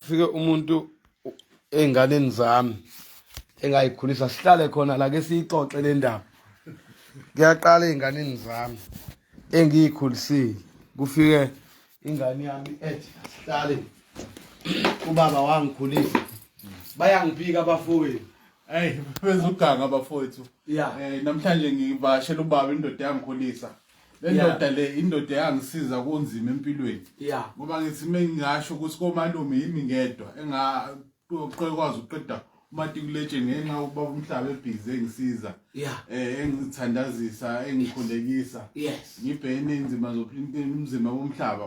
fike umuntu ey'nganeni zami engayikhulisa sihlale khona la ke siyixoxe le ndaba kuyaqala ey'nganeni zami engiyikhulisile kufike ingane yami ethi asihlale ubaba wangikhulisa bayangiphika abafowethu Hey, bezuganga bafowethu. Yeah. Eh namhlanje ngivashela ubaba indoda yangikhulisa. lendoda le indoda eyangisiza kunzima empilweni ngoba ngithi uma ngingasho ukuthi komalume yimi ngedwa engakwazi ukuqeda umatikulethe ngenxa yokuba umhlaba ebhizi engisiza eh engithandazisa engikhulekisa ngibhene inzima zomzima womhlaba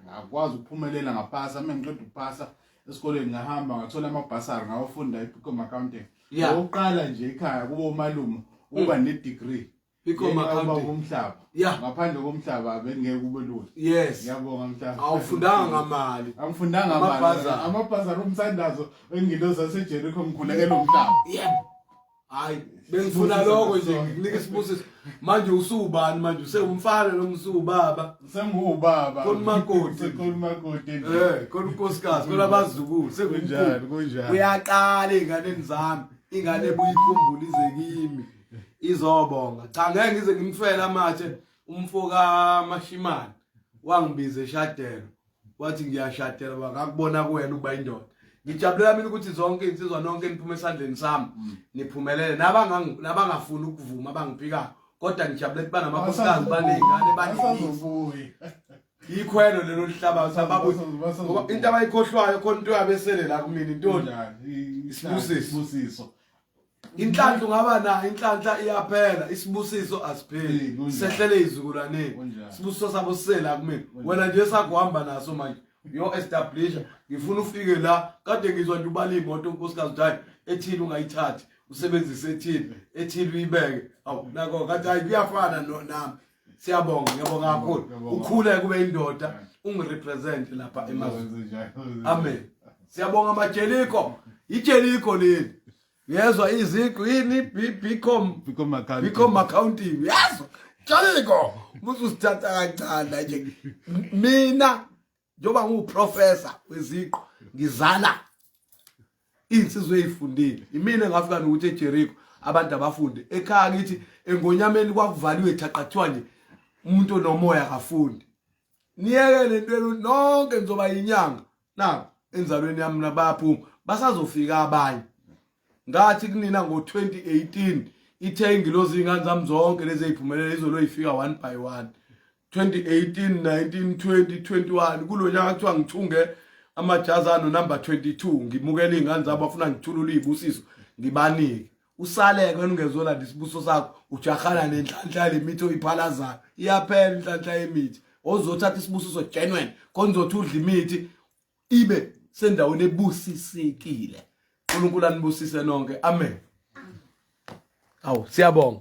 ngakwazi ukuphumelela ngaphasa uma ngiqeda ukuphasa esikoleni ngahamba ngathola amabhasari ngawafunda i-picom accounting ngokuqala nje ekhaya kubo umalume uba ne-degree Bikho makhanda umhlaba. Yeah. Ngaphandle komhlaba bengeke kube lula. Yes. Ngiyabonga mhlaba. Awufundanga ngamali. Angifundanga ngamali. Amabhazara omthandazo engiloza seJericho ngikhulekela umhlaba. Yeah. Hayi, bengifuna lokho nje nginika isibusiso. Manje usubani manje usewumfana noma usubaba? Sengiwubaba. Konimakoti. Sekonimakoti. Eh, konkosikazi, kolabazukulu, sekunjani, kunjani. Uyaqala ingane zami. Ingane buyikhumbula ize kimi. izobonga cha ngeke ngize ngimfela amathe umfo kaMashimane wangibiza eshadelo wathi ngiyashadela bakakubona kuwena uba indoda ngijabulela mina ukuthi zonke insizwa nonke niphume esandleni sami mm. niphumelele nabangafuni ukuvuma abangiphikayo kodwa ngijabulela ukuthi banamakhosikazi baney'ngane baningi yikhwelo lelo lihlabathi ababuthi ngoba into abayikhohlwayo khona into yabesele la kumina intoni isibusiso inhlanhla ungaba nayo inhlanhla iyaphela isibusiso asipheli sehlele izukulwaneni sibusiso sabo sisela kumina wena nje sakuhamba naso manje yo establisha ngifuna ufike la kade ngizwa nje ubala imoto unkosikazi uthi ethini ungayithathi usebenzise ethini ethini uyibeke awu nako kathi hayi kuyafana nami siyabonga ngiyabonga kakhulu ukhule kube indoda ungirepresent lapha emazweni amen siyabonga majeliko ijeliko leli yezwa iziqu yini bcom bcom accounting yezwa jaliko mususithatha kancane nje mina njengoba ngiwuprofessor weziqu ngizala iy'nsizwa ey'fundile imina engafika nokuthi ejeriko abantu abafunde ekhaya kithi engonyameni kwakuvaliwe thaqa kuthiwa nje umuntu onomoya akafundi niyeke le ntwenu nonke nizoba yinyanga na enzalweni yami nabaphuma basazofika abanye ngathi kunina ngo-2018 ithe ingilozi iy'ngane zami zonke lezi ey'phumelela izolo yifika one by one 2018 19 20 21 kulo nyaka kuthiwa ngithunge amajazi ano number 22 ngimukela iy'ngane zabo bafuna ngithulule iy'busiso ngibanike usaleke uningezona lesibuso sakho ujahana nenhlanhla yemithi oyiphalazayo iyaphela inhlanhla yemithi ozothatha isibusiso genuine konzothi udla imithi ibe sendaweni ebusisekile uNkulunkulu anibusise nonke amen awu siyabonga